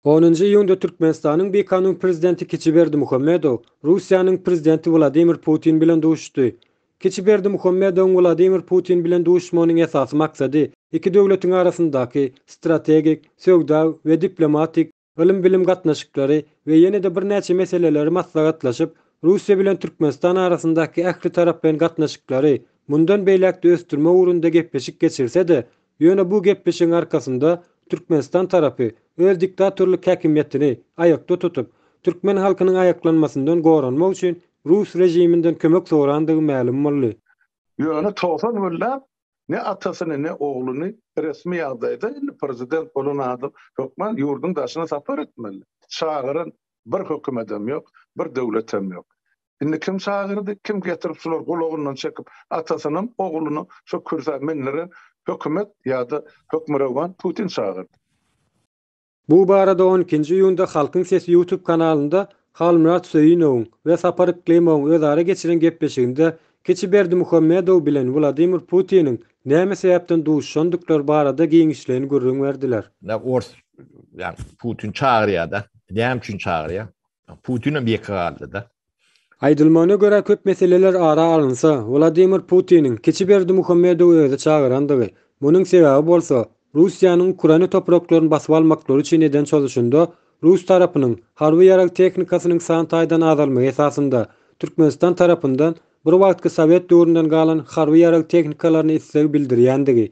Onunjy iýunda Türkmenistanyň BK-nyň Prezidenti Kiçi Berdimuhamedow Russiýanyň Prezidenti Wladimir Putin bilen duşuşdy. Kiçi Berdimuhamedowyň Wladimir Putin bilen duşuşmagynyň esasy maksady iki döwletiň arasyndaky strategik, söwda we diplomatik, ylym-bilim gatnaşyklary we ýene-de birnäçe meseleleri maslahatlaşyp, Russiýa bilen Türkmenistan arasyndaky ähli taraplaýyn gatnaşyklary mundan beýläk-de ösdürmek ugrunda gepleşik geçirse-de, ýöne bu gepleşigiň arkasynda Türkmenistan tarapy öz diktatorlyk häkimiýetini aýakda tutup, türkmen halkynyň aýaklanmasyndan goranmak üçin rus režiminden kömek sorandygy mälim boldy. Ýöne togsan günläp Ne atasyny, ne ogluny resmi ýagdaýda, indi prezident bolan adam hökman ýurduň daşyna sapar etmeli. Çagyran bir hökümetem ýok, bir döwletem ýok. Indi kim çagyrdy, kim getirip şular gulagyndan çekip, atasynam, oglunam şu kürsä mindiren hökümet ýa-da hökmürowan Putin çagyrdy. Bu barada on ikinji iýunda Halkyň sesi ýutub kanalynda Halmyrat Söýünowyň we Sapar Yklimowyň özara geçiren gepleşiginde kiçi Berdimuhamedow bilen Wladimir Putiniň näme sebäpden duşuşandyklary barada giňişleýin gürrüň berdiler. Nä ors ýa Putin çagyrýada, näme üçin çagyrýa? Putin hem ýeke galdyda. Aýdylmagyna görä, köp meseleler ara alynsa, Wladimir Putiniň kiçi Berdimuhamedowy özi çagyrandygy, munuň sebäbi bolsa, Russiýanyň Ukraina topraklaryny basyp almaklary üçin eden çozuşynda rus tarapynyň harby ýarag tehnikasynyň san taýdan azalmagy esasynda, Türkmenistan tarapyndan bir wagtky sowet döwründen galan harby ýarag tehnikalaryna isleg bildirýändigi,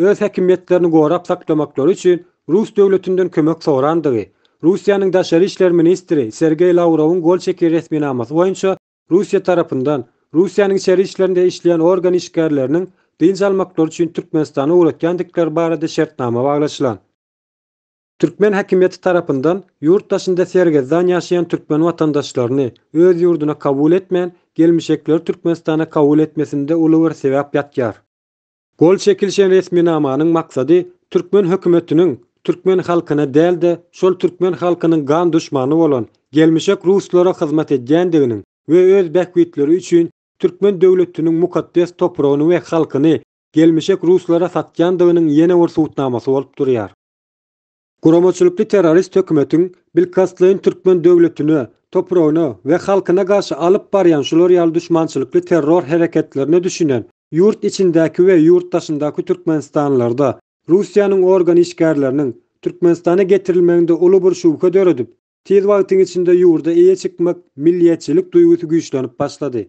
öz häkimiýetlerini gorap saklamaklary üçin rus döwletinden kömek sorandygy, Russiýanyň daşary işler ministri Sergeý Lawrowyň gol çeken resminamasy boýunça Russiýa tarapyndan Russiýanyň içeri işlerinde işleýän organ işgärleriniň dynç almaklary üçin Türkmenistana ugratýandykleri barada şertnama baglaşylan. Türkmen häkimiýeti tarapyndan ýurt daşynda sergezdan ýaşaýan türkmen watandaşlaryny öz ýurduna kabul etmän, gelmişekleri Türkmenistana kabul etmesinde uly bir sebäp ýatýar. Gol çekilişen resminamanyň maksady türkmen hökümetiniň türkmen halkyna däl-de, şol türkmen halkynyň gan duşmany bolan gelmişek ruslara hyzmat edýändiginiň we öz bähbitleri üçin türkmen döwletiniň mukaddes topragyny we halkyny gelmişek ruslara satýandygynyň ýene bir subutnamasy bolup durýar. Guramaçylykly terrorist hökümetiň bilkastlaýyn türkmen döwletine, topragyna we halkyna garşy alyp barýan şular ýaly duşmançylykly terror hereketlerine düşünen ýurt içindäki we ýurt daşyndaky türkmenistanlylarda Russiýanyň organ işgärleriniň Türkmenistana getirilmeginde uly bir şübhe döredip, tiz wagtyň içinde ýurda eýe çykmak milliýetçilik duýgusy güýçlenip başlady.